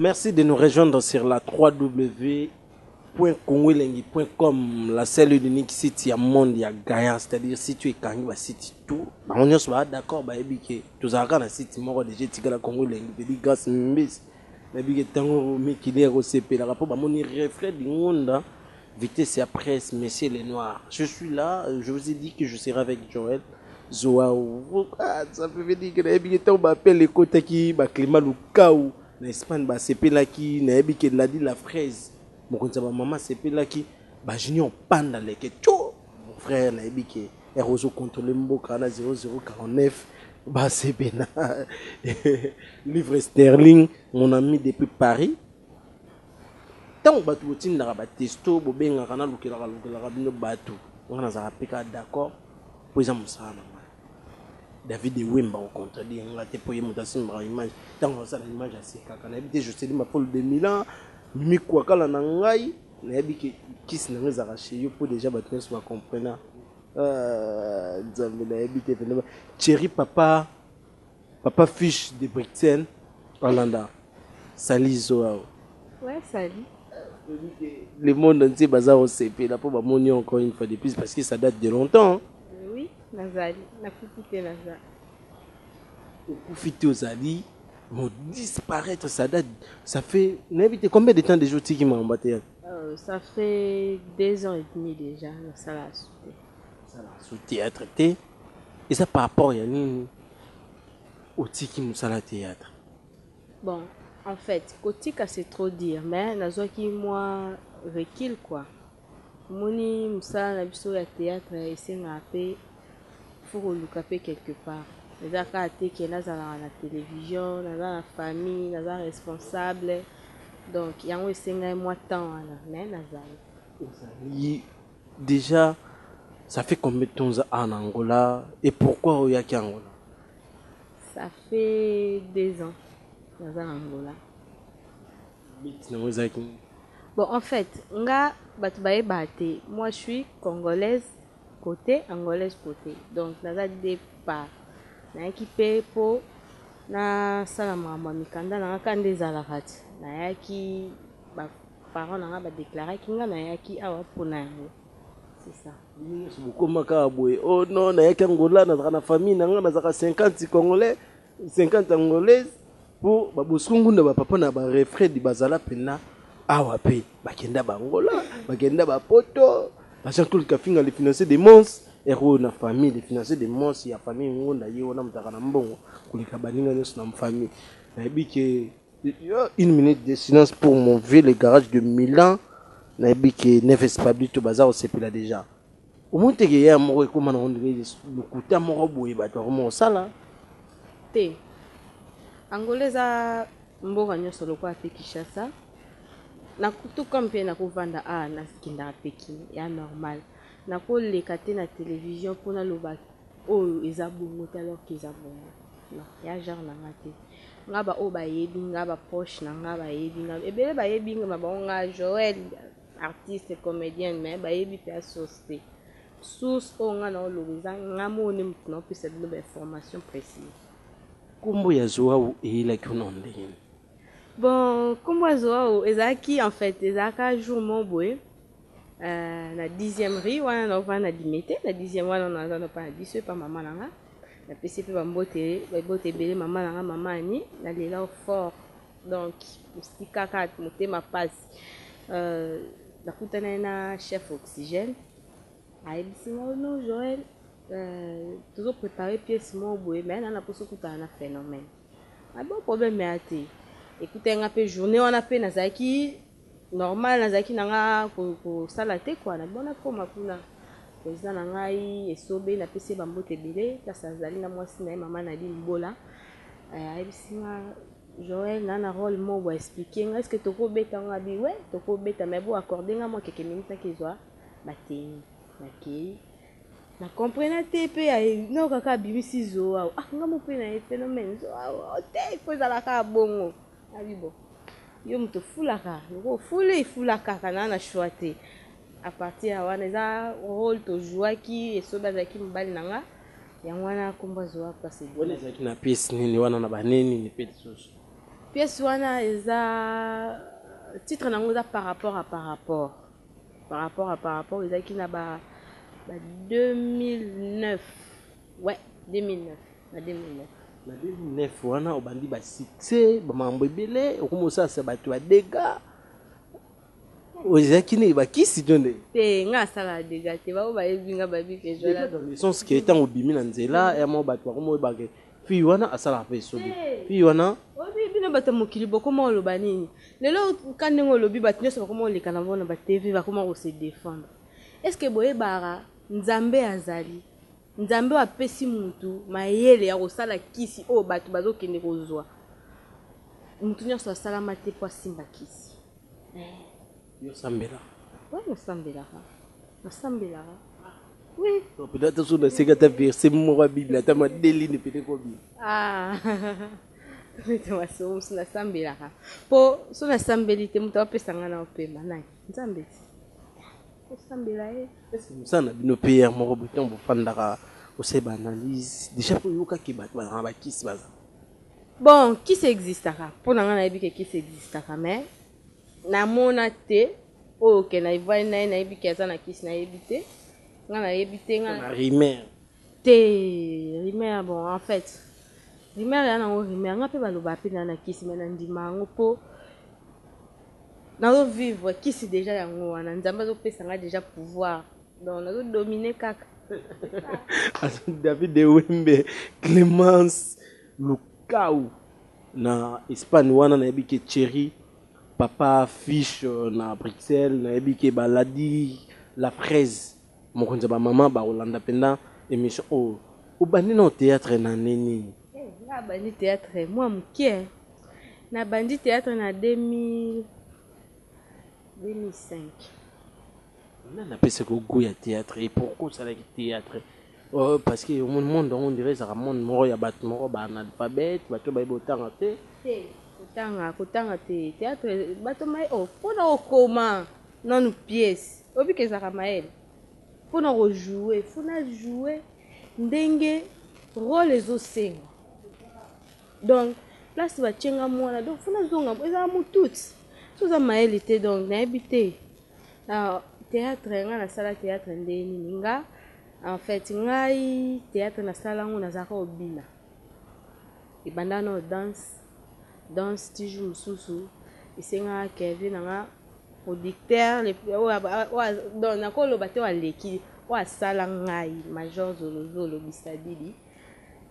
Merci de nous rejoindre sur la 3W .congoelengi.com la seule unique site ya monde ya gagnant c'est-à-dire si tu ekangi ba site tout bango nyonso baa d'accord bayebi ke tozalaka na site moko deja etikala congo elengi pedi grâce mbisi nayebi ke ntango mikili ekosepelaka mpo bamoni refrain dingonda vitesse ya presse monsieur le noir je suis là je vous ai dit que je serai avec joel zoao ah, ça peut veut dire que nayebi ke ntango baapele ekotaki baclima lukau na espagne basepelaki nayebi ke ladi la fraise mokonzi ya bamama asepelaki bajunior panda leke tio mon frère nayebi ke Yako ozo controler mboka na 0049 ba sebe na livre sterling mon ami depuis Paris ntango bato botindaka batesto bobengaka nalukelaka lukelaka bino bato ngai nazalaka mpe kaka d'accord mpo eza mosala na ngai david ewemba ocontredire ngai te mpo ye moto asimbaka image ntango asala image asekaka nayebi te joselima polo de milan mimi kuakala na ngai Nayebi ke kisi nango ezalaka chez yo po dejà bato nyonso ba comprena. Ah, Nzambe nayebi te pende ba Thierry papa papa fiche de Bruxelles Alanda sali zo awa. Ouais, sali. Le monde entier baza kosepela po bamoni yo encore une fois de plus parce que ça date de longtemps. Oui, nazali. Nakuti te nazali. Okufi te ozali mo disparaître ça date ça fait nayebi te combien de temps déjà otiki makambo ateya euh, ça fait deux ans et demi déjà nasala su te sala su théâtre te eza par rapport ya nini otiki mosala théâtre bon en fait kotika c'est trop dire mais nazwaki mwa recul quoi Omoni musala na biso ya theatre esengaka pe il faut koluka pe quelque part eza kaka te ke nazalaka na television naza na famille naza responsable donc yango esengai mua temps wana mais nazali. Ozali dejà ça fait combien de temps oza awa na Angola et pourquoi oyaki Angola? Ça fait deux ans naza na Angola But nango ezalaki nini? Bon en fait nga batu bayeba te moi je suis congolaise cote angolaise cote donc naza deux part nayaki pe po na sala makambo ya mikanda nanga ka nde ezalaka te nayaki ba parents nanga ba declaraki nga nayaki awa pona yango c'est ça bino nionso bokoma kaka boye oh non nayaki angola nazalaka na famille nanga nazalaka 50 congolais 50 angolaise po babosiko ngunda bapapa na barefred bazala mpena awa mpe bakenda baangola bakenda bapoto ba jean claude kafinga le financier de mons ero oyo na famille le financier de mons ya famille ngunda ye wana motaka na mbongo koleka baninga nyonso na famille nayebi ke une minute de silence pour mon vieux le garage de milan nayebi ke neves pablito baza kosepela déjà omoni teke yaya moko ekóma nango ndenge lokuta moko boye bato bakoma kosala te angola eza mboka nyonso lokola te kinshasa nakutuka mpe nakovanda a ah, nakendaka pekin ya normal nakoleka te na televizio mpo naloba oyo eza bongo te alors ke eza bongo non ya genre na nga te nga baoyo bayebi nga baproche na nga bayebi nga ebele bayebi nga ma bango nga joel artiste comedienne mais bayebi pe ya source te source oyo nga nao loba eza nga moko nde mutu nao pesa bino ba information precise kombo ya zoawu eyelaki yo na ndenge nini bon kombo ya zoawu ezalaki en fait ezalaka jour moko boye euh, na dixième rue wana naovanda na limete na dixième wana naza na pa na biso epa mama na nga napesi mpe bambote babote ebele mama na nga mama ani nalela fort donc mosika kaka motema mpasi Euh, nakutanaki na chef oxygène ayebisi nga oh non joel euh, tozo prépare pièce moko boye mais nana mposa okutana na phénomène ah bon problème ya te ekutaki nga mpe journée wana mpe nazalaki normal nazalaki na nga kosala te kua na bona koma kuna président na ngai esobe napesi ye bambote ebele kasi azali na mwasi na ye mama na limbola euh, ayebisi nga Joël na na role moko bo explique nga est ce que toko beta nga bi we toko beta mais bo accorde nga mwa quelques minutes na kezwa ba tenue na keyi na comprena te pe ya no kaka abimisi zo awa ah nga mo pe na ye phénomène zo awa oh, te il faut ezala ka bongo na bi bon yo moto ofulaka loko ofuli ifulaka kaka na na choix te à partir ya wana eza role to jouaki esobe azalaki mobali na nga yango wana kombo azwi wapi kasi wana ezalaki na pièce nini wana na banini ni mpe lisusu pièce wana eza titre nango eza par rapport à par rapport par rapport à par rapport ezalaki na ba, ba 2009 ouais 2009 na 2009 na 2009 wana obandi basuccès bamambo ebele okomi osalisa bato ya dega ozalaki nini bakisi to nde te nga asalaka deja te baoyo bayebi nga bayebi ke joaessence ke ntango obimi na nzela ya mwa bato bakoma oyebaka fille wana asalaka mpe esobi fille wana oyebi bino bato ya mokili bokoma oloba nini lelo ka ndenge olobi bato nyonso bakoma oleka na bango na batv bakoma kose defendre est ce que boyebaka nzambe azali nzambe oyo apesi motu mayele ya kosala kisi oyo bato bazokende kozwa motu nyonso asalama te mpo asimba kisi Yo osambelaka? Oui, nasambelaka. Nasambelaka. Oui. Donc peut-être soki naseki ata verset moko ya Bible ata madelini peut-être ekobima. Ah. Nete masolo mosusu nasambelaka. Mpo soki nasambeli te moto apesa ngai na opema nani? Nzambe ti. Osambela ye. Est-ce que mosala na bino PR moko boye ntango bofandaka osala ba analyse déjà mpo oyokaki bato bazala na bakisi baza? Bon kisi existaka mpo na ngai nayebi ke kisi existaka mais namona te oyo ke na evuali na ye nayebi ke aza na kisi nayebi te nga nayebi te nga rimer te rimer bon en fait rimer ya nango rimer nga mpe baloba mpe na na kisi me nandima yango mpo nazovivre kisi deja yango wana nzambe azopesa nga deja pouvoir Donc nazo dominer kaka. David de Wembe, Clemence Lukau na Espagne wana nayebi ke Thierry papa fiche euh, na Bruxelles nayebi ke baladi la fraise mokonzi ya bamama bakolanda mpenza émission oyo oh, obandi na théâtre na nde nini eh, nabandi théâtre mwa moke nabandi théâtre na 2000 2005 Nani apesa ko gout ya theatre et pourquoi osalaki theatre oh parce que omoni monde yango ondire ezaka monde moko ya batu moko ba analphabete batu bayebi otanga te te kotanga kotanga te theatre bato maye oh pona okoma nanu pièce oyebi ke ezaka mayele pona ko joue fona joue ndenge role ezosenga donc place batie nga muana donc fona zonga ezaka mututi soki oza mayele te donc nayebi te Alors theatre nga na sala theatre nde nini nga en fait ngai theatre na sala ngo na zaka obina ebanda na danse danse tiju mususu esenga Kevin na nga producteur le o a donc na ko loba te wa leki o a sala ngai major zolo zolo bisadidi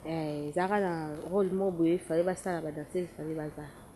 eh zaka na role mobo e fallait ba sala ba danse fallait ba zala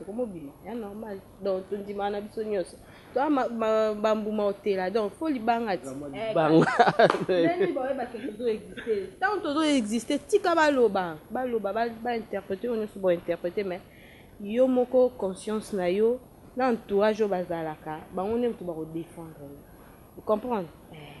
ekomobima ya normal donc tondimaka na biso nyonso toa bambuma otela donc fo libanga ti ntango tozo existe tika baloba baloba bainterprete oyo nyonso bointerprete mais yo moko conscience na yo na entourage oyo bazalaka bango nde moto bakodefendre yo comprendre eh.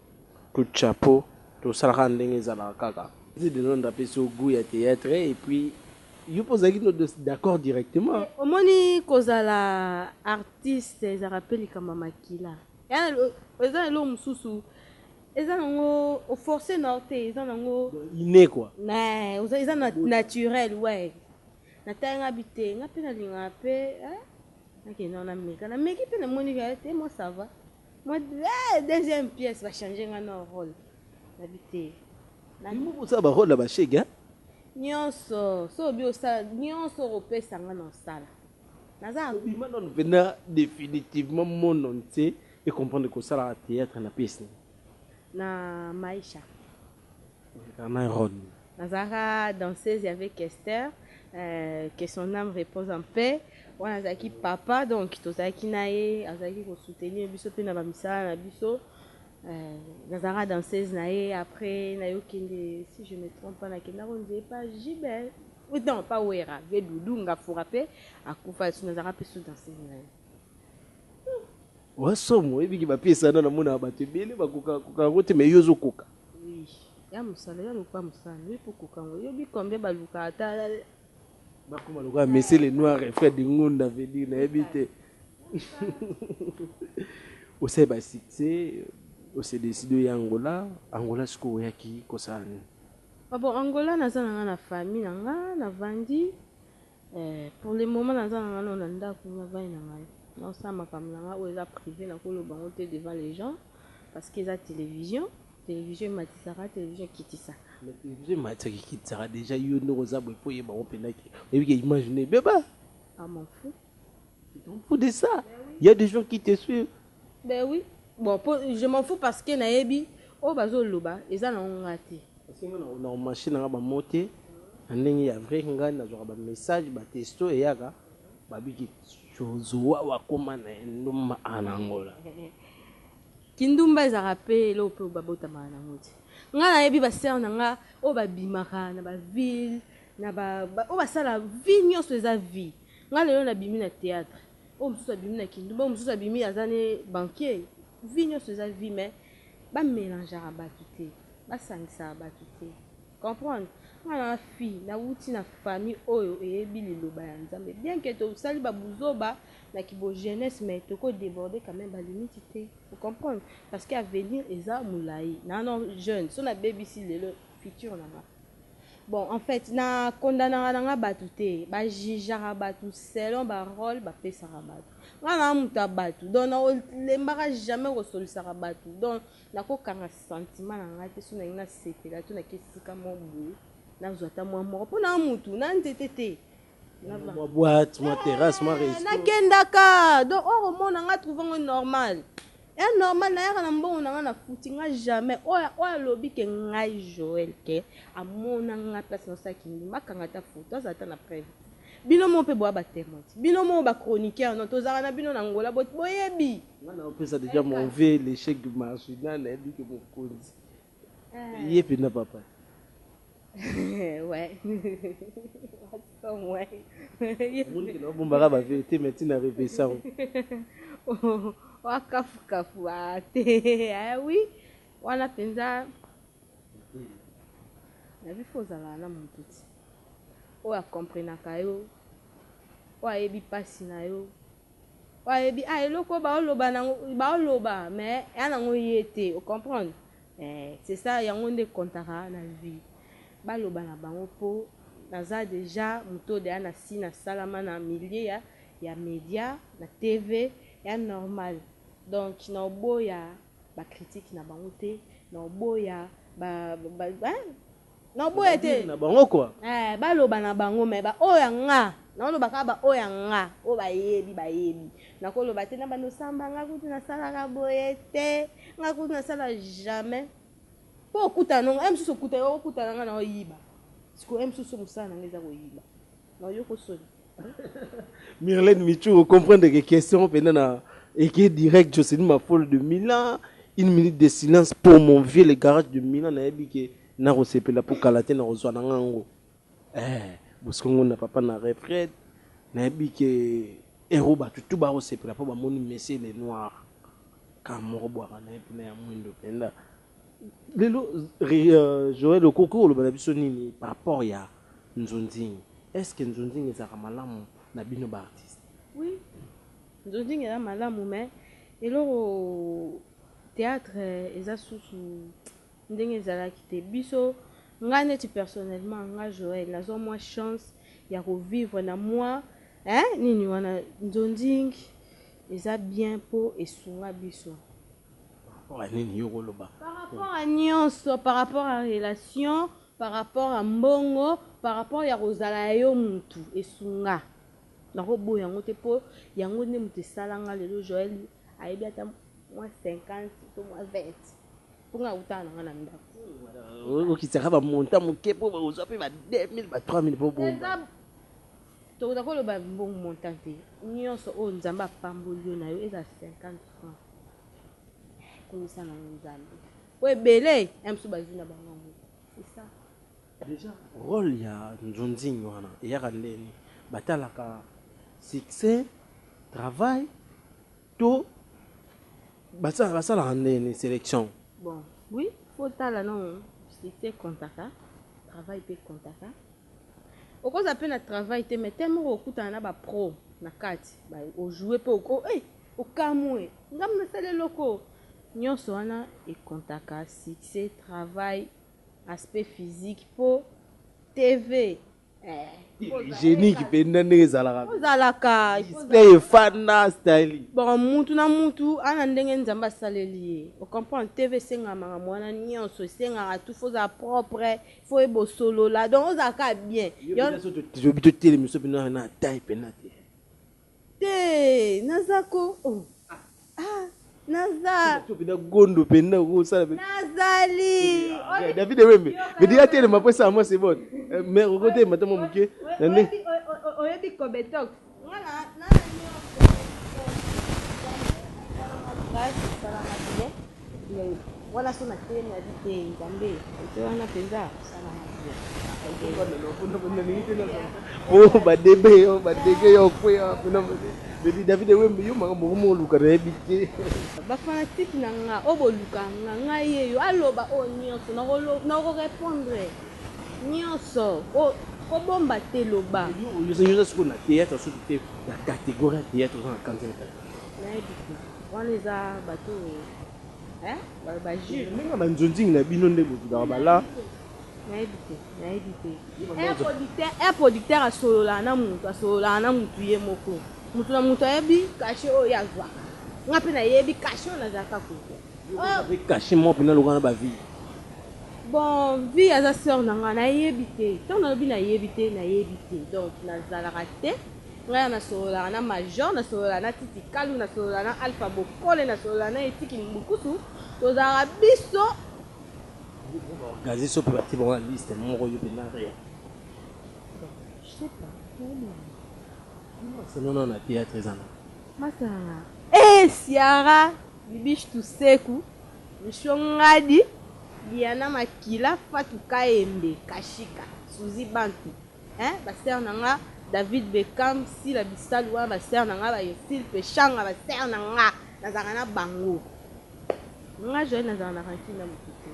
Coup de chapeau tosala kaka ndenge ezalaka kaka. Zi Denonde apesi yo gout ya theatre et puis yo pe ozalaki d'accord directement. Mais omoni kozala artiste ezalaka pe likambo ya makila eza na eloko mosusu eza na ngo o forcer na yo te eza na ngo inne quoi mais eza na naturel ouais na tali nga bi te nga pe na lingaka pe nakende wana meka na meki pe na moni que te moi ça va. Moi eh, deuxième pièce ba changer nga na rôle. Na bité. Na mo ko ba rôle ba chege hein. Nyonso so bi osala nyonso ko pesa nga na osala. Naza bima non vena définitivement mon nom c'est et comprendre ko sala théâtre na pièce. Na Maisha. Bernard Ron. Nazalaka danseuse avec Kester, que son ame repose en paix. Wana azalaki papa donc tozalaki na ye, azalaki ko soutenir biso mpe na ba misala na biso. Nazalaka danseuse na ye après nayo kende si je me trompe pas nakenda ko nzee epa JB non pas Werra, Vieux Doudou Ngafura mpe akufa nazalaka mpe sous danseuse na ye. Oza somo oyebi ki ba piece wana na monaka bato ebele ba koka koka yango te mais yo ozo koka. Oui ya musala yo luka musala nayo po koka yango oyebi combien ba luka ata ba koma lokola monsieur le noir et frère de ngunda veut dire nayebi te osali ba succès ose décide oya angola angola sikoyo oyaki kosala nini ah bon angola naza na nga na famille na nga na vandi Eh pour le moment naza na nga no na ndaku na vay na ngai nao sala makambo na nga oyo eza prive nako loba yango te devant les gens parce que eza television television ematisaka television ekitisa mais television ematisaka ekitisaka dejà yo ndeko oza boye po oyeba ngo penda ke oyebi ke image no ebeba ah m'en fous Tu t'en fous de ça. Il y a des gens qui te suivent. Ben oui. Bon, po, je m'en fous parce que nayebi oyo bazo loba eza na nga te. Parce que na na machine nga ba mote na ndenge ya vrai nga na zoka ba message ba testo eyaka ba biki zozoa wa koma na ndumba anangola. Kindumba ezaka pe elo pe babota ma na ngoti. Nga nayebi ba sœur na nga oyo babimaka na ba ville na ba oyo basala vie nyonso eza vie Nga lelo na bimi na theatre oyo mususu abimi na kindumba oyo mususu abimi aza ne banquier vie nionso eza vie mais ba melangeaka batu te ba sangisaka batu te comprendre nga naza fille na wuti na famille oyo eyebi liloba ya nzambe bien que to sali ba buzoba na ki bo jeunesse mais toko deborder quand meme ba limite te o comprendre parce que avenir eza mulayi nano jeune soki na bebisi lelo future na nga Bon en fait na condamnaka na nga batu te ba jugeaka batu selon ba role ba pesaka batu nga na mutu ya batu donc na lembaka jamais ko solisaka batu donc na ko kanga sentiment na nga te so na lingi na sepela to na ke esika moko boye na zwa ata mwa moko po na mutu na nzete te mwa boite mwa terrasse mwa resto nakendaka donc oko mona nga trouve ngo normal ya normal nayaka na mbongo na nga na futi nga jamais oyo oyo alobi ke ngai Joël ke amona nga place na saki ngi makanga ta photo azala ta na preuve bino mo pe boya ba témoins bino mo ba chroniqueurs non tozaka na bino na ngola boyebi nga na opesa déjà mon vie l'échec du marginal na yebi ke mokonzi Ye penda papa. ouais. Wason ouais. Monique na bombaka ba vérité mais tina repesa. Wa kafu kafu ah te. Ah oui. Wana penza. Na bi faut zala na mutu ti. Oyo a comprenaka yo. Oyo ayebi pasi na yo. Oyo ayebi ah eloko oyo bao loba nango bao loba mais ea nango ye te o comprendre eh c'est ça yango nde e comptaka na vie ba loba na bango po naza dejà moto oyo dejà nasi na salama na milieu ya ya media na TV ea normal donc nao boya ba critique na bango te nao boya ba ba hein. Na boya te. Na bango quoi. Eh ba loba na bango mais ba oyo ya nga na loba ka ba oyo ya nga oyo ba yebi ba yebi na ko loba te na banda osamba nga kutu na sala ka boye te nga kutu na sala jamais po okuta na nga misusu okuta yo okuta na nga na oyiba siko misusu musala na nga eza koyiba na yo ko soni Mirlène Michou, vous comprenez que question pendant na écrit direct Jocelyn Mafolo de Milan, une minute de silence pour mon vieux le garage de Milan na yebi que na ko sepela pour kalate na kozwa na ngango. Eh, boskongo na papa na retraite, na yebi que héros ba tout ba ko sepela pour ba moni Messi le noir. Kamoro bwa na yebi na ya mwindo penda. Lelo euh, Joël okoki koloba na biso nini par rapport ya nzunzing? Est-ce que nzunzing ezalaka malamu na bino ba artistes? Oui. Nzunzing eza malamu mais eloko théâtre eza susu ndenge ezalaki te. Biso nga neti personnellement nga Joël nazwa mwa chance ya ko vivre na mwa eh nini wana nzunzing eza bien po esunga biso. par rapport à nionso par rapport à relation par rapport à mbongo par rapport ya kozala ya yo mutu esunga nakoboya yango te mpo yango nde moto esala nga lelo joel ayebi ata mwa 50 to mwa 20 mpo nga akutana na nga na ndako okitaka bamonta moke mpo bakozwa mpe ba 2000 ba 3000 mpo bomba Tokoza ko loba mbongo montant te nionso oyo nzambe apamboli yo nayo ezala 50 francs kumisa nango nzambe po ebele ya misusu bazui na bango yango c'est ça. Dejà role ya nzunzing wana eyaka ndeni batalaka succès travail to basalaka ndeni selection. Bon oui faut tala non succès comptaka travail pe comptaka. Okozala pe na travail te mais temps moko okokutana na ba pro na kati ba o jouer pe oko eh okamue ngai nasali eloko oyo nionso wana e comptaka succès, travail, aspect physique po TV eh hygienique penza ndenge ezalaka pe ezalaka display efanda style bon mutu na mutu aza na ndenge Nzambe asaleli ye o comprendre TV esengamaka makambo wana nionso esengaka tout faut ozala propre faut ye bosolola donc ozala kaka bien tobi totelemi so bino na taille mpena te te naza ko oh. ah, naza mpena gondo mpena okosala nazali ah, eh, david ewembe medi atelema mpo esala mwa sebone eh, mare okotelema ta mwa moke na nde oyebi kobetox Oh, badebe yo badege yo okweya baby david ewembe yo makambo okomi oluka nayebi te bafanatike na nga oyo boluka nga ngai yeyo aloba oyo nyonso nakorepondre Nioso ko ko bomba te loba. Yo oza sikoyo na theatre soki te na categorie ya theatre oza na kanza ya tata. Nayebi te wana eza bato eh ba juge. Ndenge ya ba nzonzing na bino nde bozudaka ba la. Nayebi te nayebi te un producteur un producteur asololaka na mutu asololaka na mutu ye moko mutu na mutu ayebi cachet oyo ye azwaka nga pe nayebi cachet oyo nazalaka kozwa. Yo oza pe cachet moko pena lokola na ba vie. Bon vie aza soeur na nga na yebi te tango na lobi na yebi te na yebi te donc na zalaka te nga na sololaka na major na solola na titi kalu na solola na alpha bokole na solola na etiki mbukusu tozalaka biso gazeso pe bati bango na liste moko yo pe na rien je sais pas c'est non non na théâtre ezana masanga eh siara bibiche tuseku Michou Ngadi, Diana Makila, Fatou Kahembe, Kashika, Souzy Bantu eeh ba sœurs na nga, David Beckham, Sila Bisalu wana ba sœurs na nga, ba Ursile Peshanga ba sœurs na nga nazalaka na bango. Nga Joëlle nazalaka na rancune na mutu te,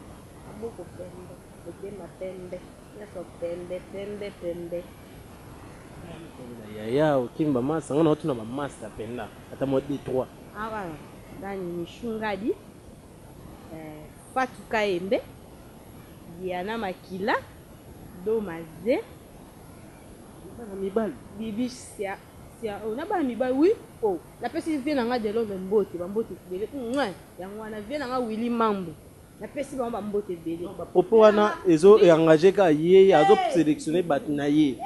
maboko pembe, motema pembe, nionso pembe pembe pembe eeh. Yaya okimi ba masanga naotuna ba masta penza ata mua deux trois. Nani Michou Ngadi eh, Fatou Kayembe, Diana Makila, Doma Ze, Bana mibali. Bibi Sia, Sia oh, na bana mibali oui oh, napesi vieux na nga Delondre mbote, ba mbote ebele mouin, yango wana vieux na nga Willy Mambu. napesi bango bambote ebele bapropo wana ezo engage ka ye azo sélectionne bato na ye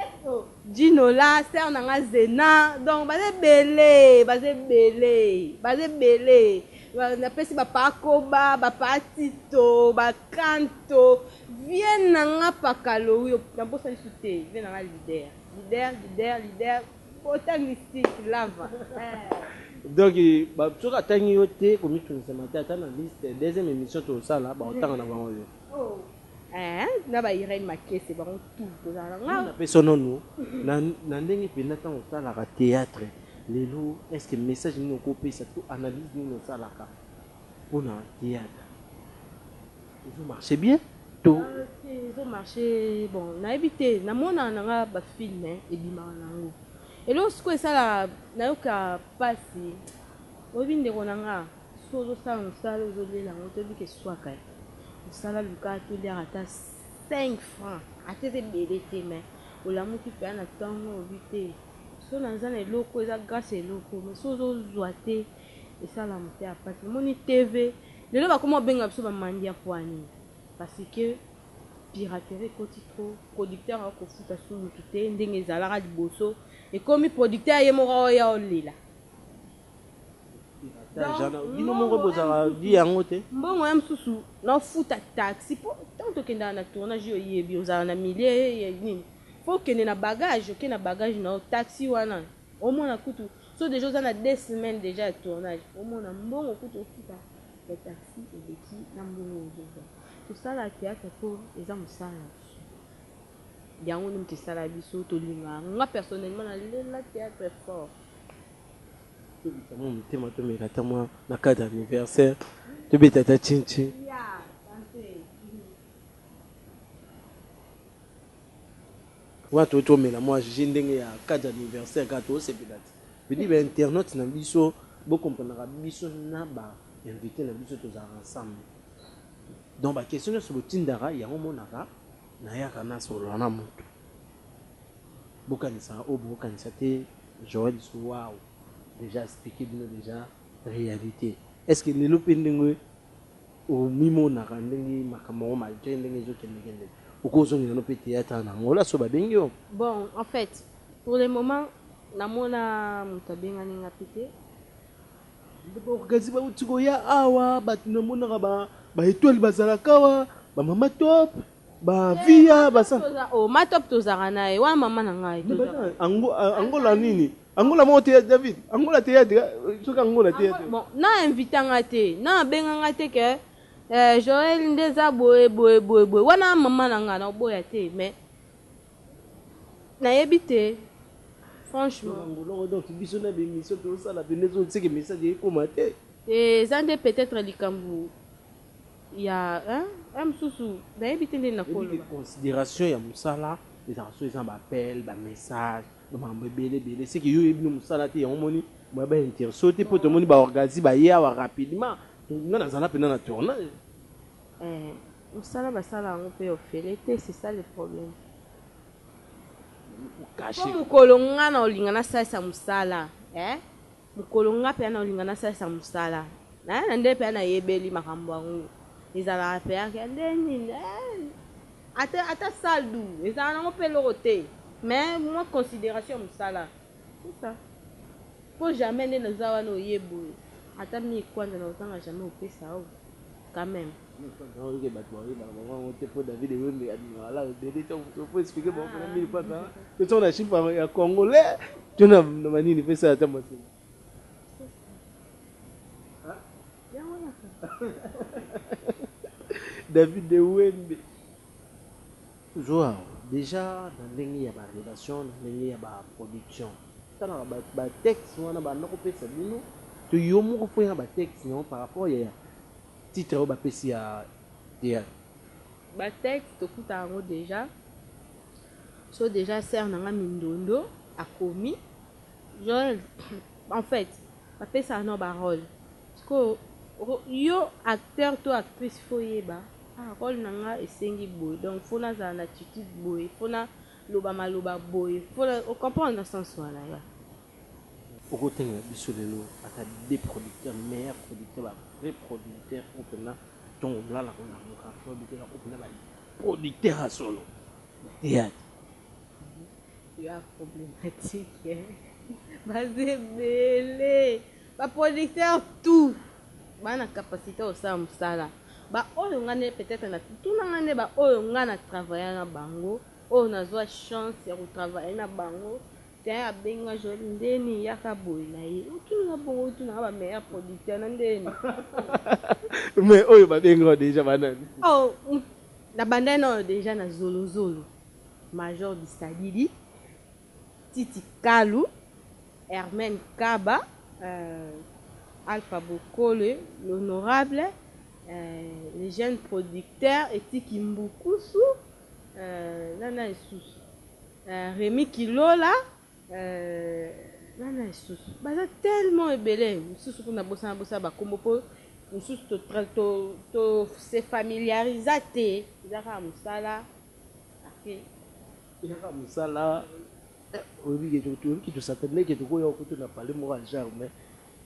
jinola ser na nga zena donc baza ebele baza ebele baza ebele napesi bapakoba bapatito bakanto vie na nga pakalowi nabosa lisu te vie na nga lider lider lider lider Pota mystique lava eh. Donc soki atangi yo te komitungisa mate ata na liste deuxième émission tosala bakotanga na bango yo oh. eh, na ba Irène Makese bango tout tozala nga na pesononu na na ndenge penda tango osalaka théâtre lelo est-ce que message nini okopesa to analyse nini osalaka pona théâtre C'est bien to. Te ezo marche bon nayebi te na mona na nga ba film ebimaka na yango eloko sikoyo esala nayoka pasi oyebi ndeko na nga so ozosala mosala ozo lela yango toyebi ke swaka ye mosala luka toliaka ata 5 francs ata eza ebele te mais olamuki pea na tongo olobi te so naza na eloko eza grace eloko mais so ozozwa te esala moteya pasi omoni TV Lelo bakoma kobenga biso ba mandia pua nini? Parce que piraterie ekoti trop, producteur akoki kofuta su mutu te ndenge ezalaka liboso, ekomi producteur ye moko azo ya olela. Mbongo ya mususu na ofuta taxi po tango tokendaka na tournage yo oyebi ozalaka na milieu nini? Faut okende na bagage, oke na bagage na yo, taxi wana Omona kutu soki dejà oza na deux semaines dejà ya tournage omona mbongo kutu ofuta ya taxi eleki na mbongo oyo ozozwa. Tosala theatre po eza mosala na biso yango nde mutu esala biso tolinga yango nga personnellement na lela theatre fort. Tobeta mua motema tomeka ata mua na cadre ya anniversaire tobeta ata tchin tchin. Wana to tomela mua jus ndenge ya cas d'anniversaire kaka to sepela te. Je dis ba internautes na biso bo comprenaka biso na ba invites na biso tozalaka ensemble. Donc ba questions nionso bo tindaka yango omonaka nayaka na solola na mutu. Bo kanisaka oyo boko kanisa te Joël sous wow dejà expliquer bino dejà realite est ce que lelo pe ndenge Omimonaka ndenge makambo yango malgre ndenge ezo kende kende okoki ozongela no pe theatre na Angola soki babengi yo? Bon en fait pour le moment namona mutu abengani nga pe te. Ba organise bawuti koya awa batu namonaka ba etoile bazalaka awa ba mama top. Ba vie ya basa. Oh ma top tozaka naye wana maman na ngai tozaka. Angola nini? Angola moko te David. Angola te ya soki Angola te. Bon na invita nga te na benga nga te ke eh, Joël nde eza boye boye boye boye wana maman na nga na oboya te mais nayebi te franchement. Angola donc biso na bemission tozosala pende ezoseke message ekoma te. Te eza nde peut-être likambo Ya eh mususu nayebi te ndeni nako loba. Consideration ya musala ezalaka soki eza na ba appel ba message ba makambo ebele ebele ce que yo oyebi no musala te yango omoni ba ba interesse yo te po tomoni ba orgazi baye awa rapidement nga nazala pena na tournage. Eh musala basala yango pe ofele te c'est ça le problème po mukolo nga na olinga nasalisa musala eh. Mokolo nga pea naolinga nasalisa mosala naye na nde pea nayebeli makambo yango ezalaka pea ke nde nini eh ata ata salle du ezalaka nango pe eloko te mais mua consideration ya mosala c'est ça po jamais nde naza wana oye boye ata mille kwanza nakozanga jamais kopesa yo Quand meme. Nao yoka batu ba yebaka bango yango te po David wembe abimaka la ebele tango mosusu po explique bango pona mille fois kaka pe soki na chiffre ya congolais to na ba nini pe sala ata mua sima David wembe Zua dejà na ndenge ya ba relation na ndenge ya ba production talaka ba ba texte wana banda ko pesa bino to yo moko fouiller na ba texte nayo par rapport ya titre oyo ba pesi ya theatre. Ba texte tofutaka yango dejà so dejà sœur na nga mindondo akomi. Joël en fait ba pesaka nao ba role sikoyo yo acteur to actrice fo yeba ah role na nga esengi boye donc fo na zala na attitude boye fo na loba maloba boye fo na o comprendre na sens wana ya Oko tengela biso lelo ata deux producteurs meilleurs producteurs ba vrais producteurs oyo penza tongo olala ko lamuka to bitela oyo penza ba producteurs ya solo na theatre. yo a problematique hein baza ebele ba producteur tout ba na capacité ya kosala mosala ba oyo nga nde peut être na tuna nga nde ba oyo nga na travailler na bango oyo nazwa chance ya ko travailler na bango tein abengi nga joli ndeni yaka boye na ye otuni nga bongo otuna nga ba meilleur producteur na ndeni mais oyo babengi yo deja banani oh na bandai na oyo deja na zolozolo Major Bisadidi, Titi Kalu, Hermène Kaba, euh, Alpha Bokole, l'honorable, euh, le jeune producteur Etiki Mbukusu, euh, na na lisusu, euh, Remy Kilola, euh, na na lisusu. Baza tellement ebele, misusu kuna bosana bosana ba kombo po misusu to to to se familiarisa te, eza kaka musala. Yaka musala oyebi ke toyebi ke tosakana mais ke tokoya kutu na palais moko ya genre mais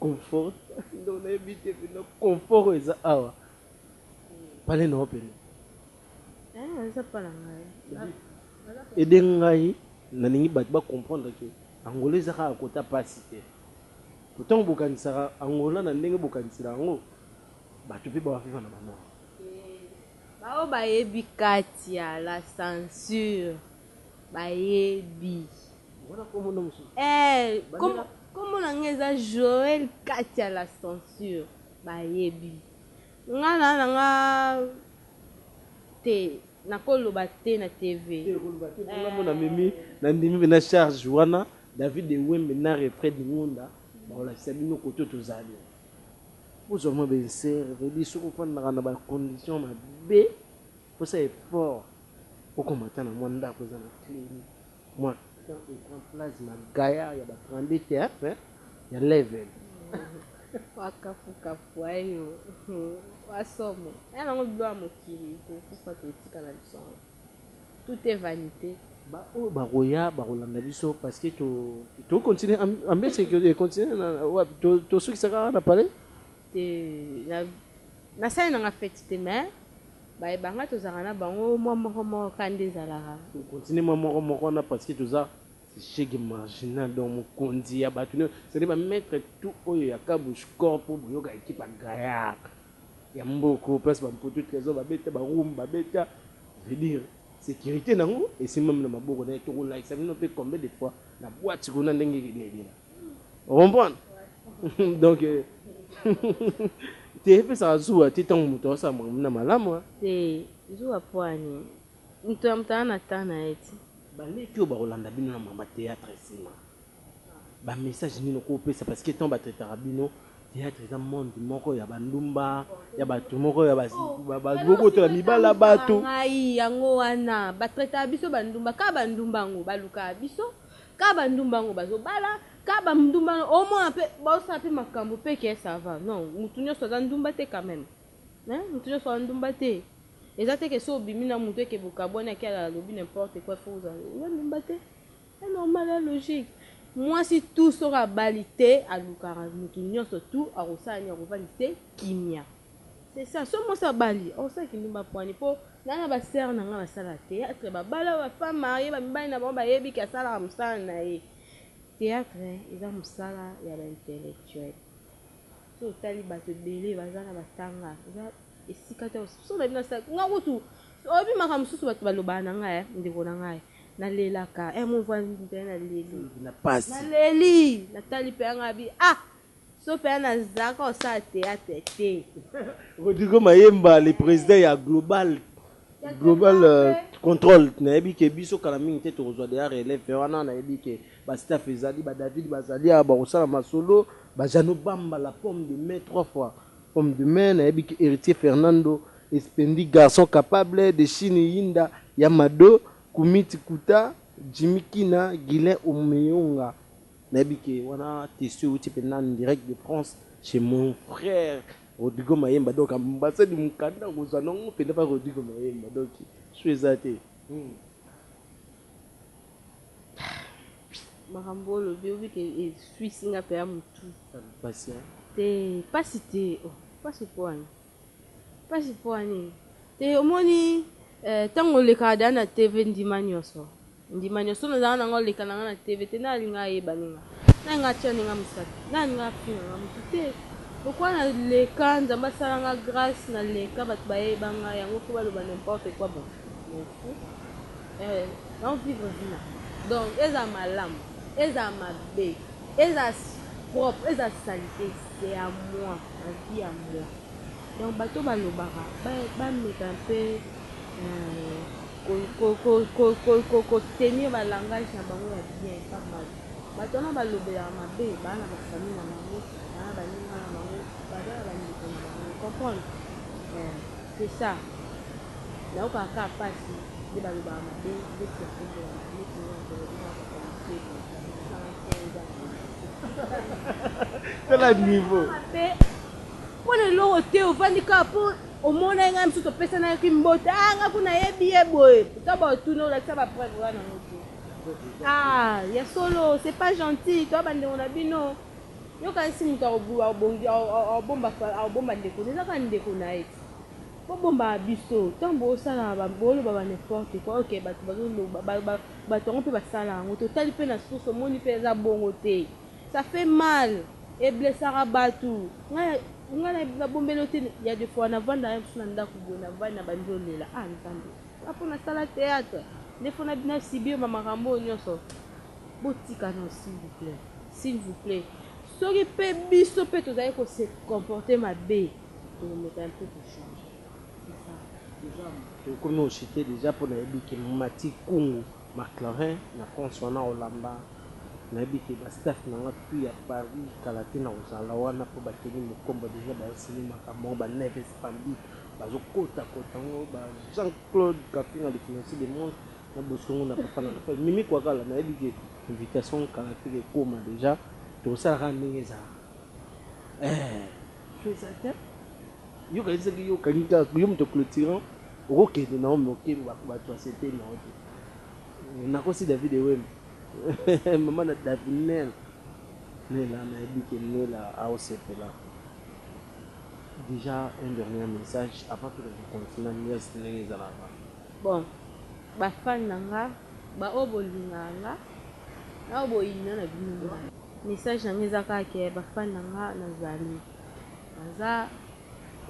confort donc nayebi te pena confort oyo eza awa palais na yo pena ede ngai nalingi bato ba comprendre ke angola eza kaka kota pasi te otango bokanisaka angola na ndenge bokanisela yango bato mpe bawafivana bamoko Baoyo bayebi kati ya la censure bayebi eh kombo na nga eza Joël kati ya la censure bayebi nga na na nga te nakoloba te na TV na mimi na ndimi mpe na charge wana David Ewembe na Refred Ngunda bakolakisa bino koto tozali Bozwa mwa bensere toyebi soki ofandaka na ba conditions mabe posa effort okoma ata na mwa ndako eza na cle ni mwa temps ecran plasma gaillard ya ba 32 TF ya level Wa kafu kafu ayo wa somo. Aya nango biloko ya mokili tokufa totika na biso yango. tout est vanite. Ba oyo bakoya bakolanda biso parce que to to continuer ambiance que continuer na wapi to to sukisa kaka na palais te na na sali na nga fête te mais ba ebanga tozaka na bango mwa moko moko ka nde ezalaka to continuer mwa moko moko na parce que toza Shege marginal donc mokonzi ya bato nioso c'est-à-dire ba maître tout oyo ya Kabush corps po boyoka equipe ya Gaillard ya mboka place ba mputu tresor ba beta ba roum ba beta veut dire securite na ngo esimbami na maboko naye toko lakisa bino pe combien de fois na boite kuna ndenge ekendeki na o comprendre donc euh, te epesaka zuwa te ntango moto aosala makambo na malamu te zuwa mpo ani moto ya moto aa na temps na ye ti baleki oyo bakolanda bino na mama théâtre nsima Ba message nini oko pesa parce que temps ba traitaka bino theatre eza monde moko ya ba ndumba ya batu moko ya ba boboto ya mibali ya batu ngai yango wana ba traitaka biso ba ndumba ka ba ndumba yango ba lukaka biso ka ba ndumba yango bazo bala ka ba ndumba omona pe bao sala pe makambo pe ke ça va non mutu nionso aza ndumba te quand même hein mutu nionso aza ndumba te eza te ke so obimi na mutu eke bokabwani ake alobi n'importe quoi faut ozala oza ndumba te C'est normal eza logique mwasi tout soki abali te alukaka mutu nionso tout akosala nini akovandi te kimia c'est ça soki mwasi abali akosala kindumba pwani po nga na ba sœur na nga basala theatre babala ba femme marie ba mibali na bango bayebi ke asalaka musala na ye theatre eza musala ya ba intellectuel soki otali batu ebele baza na batanga eza esika te soki na bino nga kutu oyebi makambo mosusu bato balobaka na ngai ndeko na ngai na lelaka eh mon voisin mpe na leli na pasi na leli na tali mpe nga bi ah so mpe na zaka osala theatre te Rodrigo Mayemba le président ya global global euh, contrôle nayebi ke biso kala mingi te tokozwa deya relève wana nayebi ke ba staff ezali ba david bazali awa bakosala masolo bajano bamba la pomme de main trois fois Homme de main na yebi que heritier Fernando espendi garçon capable de chine yinda ya mado kumiti kuta jimmy kina guilain omeonga na yebi que wana testu ewuti penza en direct de France chez mon frère Rodrigo mayemba donc ambassade mukanda okozua nango penza pa Rodrigo mayemba donc choix eza te. makambo oyo olobi obi ke eswisi nga mpe ya motu pasi te pasi te oh, pasi mpo wani pasi mpo wani te omoni ntango eh, olekaka da na tv ndima nyonso ndima nyonso nazalaka nanga oleka nanga na tv te nalinga ayeba ninga nalinga atya ninga mosapi nalinga afina nga motu te lokola naleka nzambe asala nga grâce naleka bato bayeba nga yango mpo baloba n'importe quoi bon Nao vivre vie na nga donc ezala malamu ezala mabe ezala propre ezala salite c'est à moi ma vie à moi donc bato oyo balobaka ba meka un peu ko tenir ba langage na bango ya bien pas mal bato wana balobelaka mabe baa na ba famille na bango baa na baninga na bango baza na ba ndeko na bango comprendre? C'est ça nayokaka kaka pasi nde balobaka mabe neti ya kombo ya mabe neti nga nakomi kaka papa moselu osala nsai eza na tala niveau mabe mpo na eloko te ovandi kaka mpo omonaki ngai mosusu opesanaki mbote a nga kuna yebi ye boye to baotuna olakisa bapreuve wana yango te ah ya solo c'est pas gentil toya bandeko na bino Yo okanisi mutu akobomba ndeko naye eza kaka ndeko naye bo bombaka biso tangu bo salaka bo loba ba n'importe quoi ok batu bazo loba batu yango pe ba sala yango to tali pe na source omoni pe eza bongo te ça fait mal e blessaka batu ngai na bombeli yo te ya de fois na vanda na biso na ndaku boye na vanda na bandi olela ah nzambe nga po na sala theatre nde faut na subir ba makambo oyo nioso Botika non s'il vous plait. S'il vous plait soki pe biso pe tozali ko se comporter mabe toko meka un peu ko changer c'est ça. Dejà ekomi ocite dejà po nayebi ke Mathy Kungu Maclaurin na France wana olamba nayebi ke ba staff na nga tout ya Paris kala te nakozala wana po ba Kenny Mukombo dejà bazo signer makambo yango ba Neves Bambi bazo kota kota yango ba Jean Claude Kapinga le financier de monde Na bosongo na papa na nga fally. Mimi kuakala na yebi ke invitation kala afika ekoma dejà toko sala kaka ndenge ezalaka eeh feu eza te yo okanisi soki yo okangi kaka yo moto cloturant oko kende na yo mais oke batu ba sepeli na yo te na kosi David ewembe maman na davinel nella na yebi ke nella ao sepela dejà un dernier message avant tokende continua nièce ndenge ezalaka Bon ba fan na nga ba oyo bolingaka nga na oyo boyina na bino ngai message na nga eza kaka ke ba fan na nga na zali naza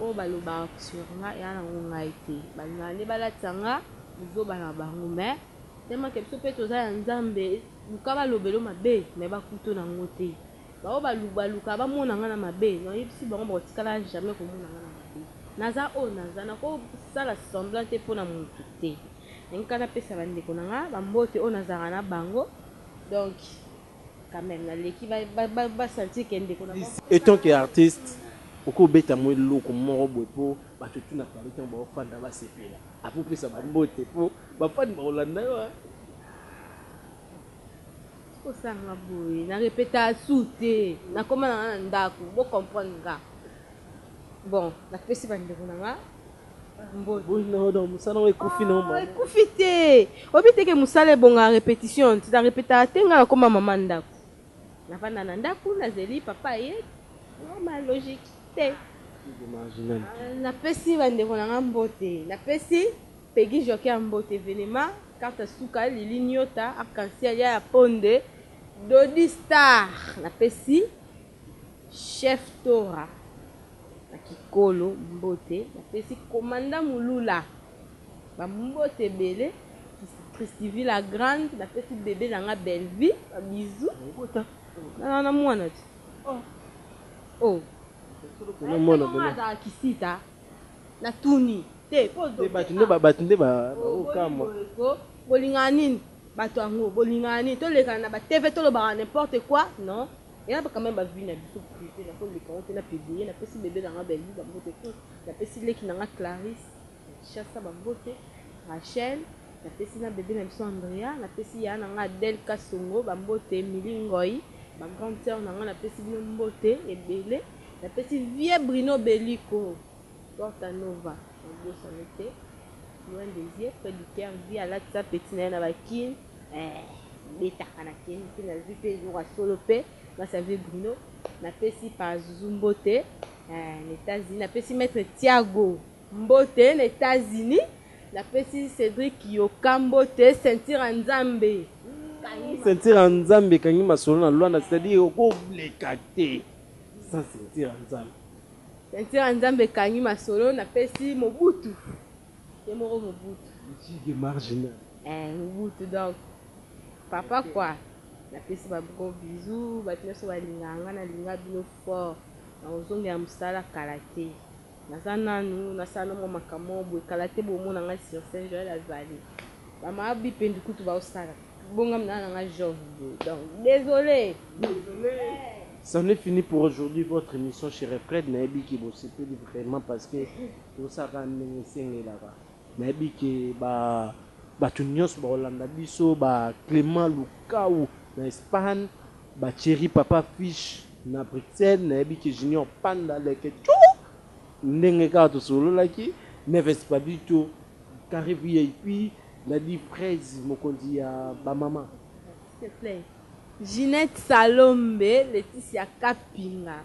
oyo balobaka sur nga ea na ngo ngai te balingaka nde balatisa nga buzoba na bango mais tellement ke biso pe toza ya nzambe luka balobelo mabe mais bakuto na ngo te. Ba oyo balubaluka ba mona nga na mabe na yebisi bango bako tikala jamais ko mona nga na mabe naza oyo naza nako sala semblant te pona mutu te nalingi kaka na pesa ba ndeko na nga ba mbote oyo nazalaka na bango donc quand meme na leki ba sentir ke ndeko na bango. Etant que artiste okoki obeta mua eloko moko boye po batu tout na paris tangu bao fanda ba sepela apres opesa ba mbote po ba fans bako landa yo hein. Kosanga boye na repeta su te nakoma nanga na ndako bo comprendre nga bon napesi bandeko na nga mosala ngo ekufi no mama ekufi te oyebi teke mosala ebonga repetition ti na repeta te nga nakoma mama ndako navanda na ndako nazeli papa ye normal logique te napesi bandeko na nga mbote napesi Peguy Joker Mbote Velema Carta Suka Lili Niota Arc-en-ciel Yaya Ponde Dody Star Na pesi Chef Tora Na Kikolo Mbote Na pesi Commandant Mulula Ba Mbote Ebele Christivie La Grande Na pesi Bebe Na Nga Bellevue Ba Bisous Obota Na Na Mwana Ti Oh Aya Tata Nga Azalaka Kisita. Na tuni te po ozo beta. Nde bato nde ba ko kamwa. Bo lingaka nini bato yango bo lingaka nini to lekana na ba TV to lobaka n'importe quoi non eza quand meme ba vie na biso prive na ko leka ngo te na publie na pesi bebe na nga Bellevue ba mbote tout na pesi leki na nga Clarisse na Kinshasa ba mbote Rachel na pesi na bebe na biso Andrea na pesi yaya na nga Adèle Kasongo ba mbote Emily Ngoy ba grande sœur na nga na pesi bino mbote ebele Na pesi vieux Bruno Beliko, Porta Nova, na bosani te, loin des yeux, près du coeur, vieux alatisa petit na ye na ba kin, eh, ebetaka na kin, kin azui pe eloko ya solo pe, muasi ya vieux Bruno, na pesi Pazuzu mbote, eh, na Etats Unis, na pesi maitre Tiago mbote, na Etats Unis, na pesi Cedric Yoka mbote, ceinture ya Nzambe, kangi masolo. Ceinture ya Nzambe, kangi masolo na Luanda, c'est à dire, oko leka te. Sans ceinture ya nzambe. Ceinture ya nzambe ekangi masolo na pesi mobutu ye moko mobutu. Michige marginal. Eh mobutu donc papa quoi. Na pesi ba gros bisous batu nioso balingaka nga na linga bino fort na kozongela musala kala te. Naza nanu na sala mua makambo moko boye kala te bomona ngai sur scène Joël azali ba ma bipendu kutu bazo sala bongami naza na ngai jove boye donc desole desole. C'en est fini pour aujourd'hui votre emission chez Refred nayebi que bosepeli vraiment parce que tozosala kaka ndenge esengelaka. Nayebi que ba batu nionso bakolanda biso ba Clement Lukau na Espagne, ba Thierry Papa Fish na Bruxelles, nayebi que Junior Panda leke tshou ndenge kaka tosololaki, Neves Pablito, Carre vip, Daddy Fraise mokonzi ya ba mama. S'il te plait Ginette Salombe Laetitia Kapinga.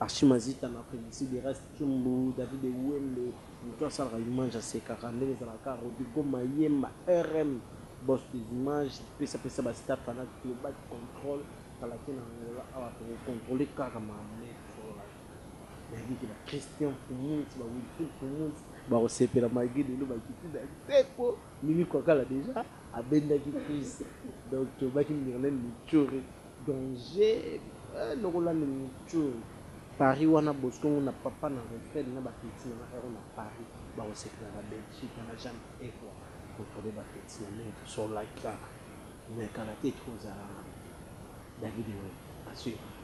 Archi Mazita na Felicite de Ras Tshumbu, David Ewembe, mutu asalaka image asekaka ndenge ezalaka kaka Rodrigo Mayemba RM boss des images pesa pesa ba staff wana global control kala te na Angola awa toko controler kaka ma maitre for life nayebi ke ba Christian Fumuntz ba Wilfrid Fumuntz bako sepela malgre lelo ba kiti na nsepo Mimi Kwakala dejà abendaki Chris donc tolobaki Myrlene Mutshori Danger eh lokola nde mutshoul. Paris wana bosco ngo na papa na refred na ba petit na nga ero na paris bako sepela na belgique na ba jane eko controler ba petit na ndenge to solola kaka mais kala te to zalana david web assuraka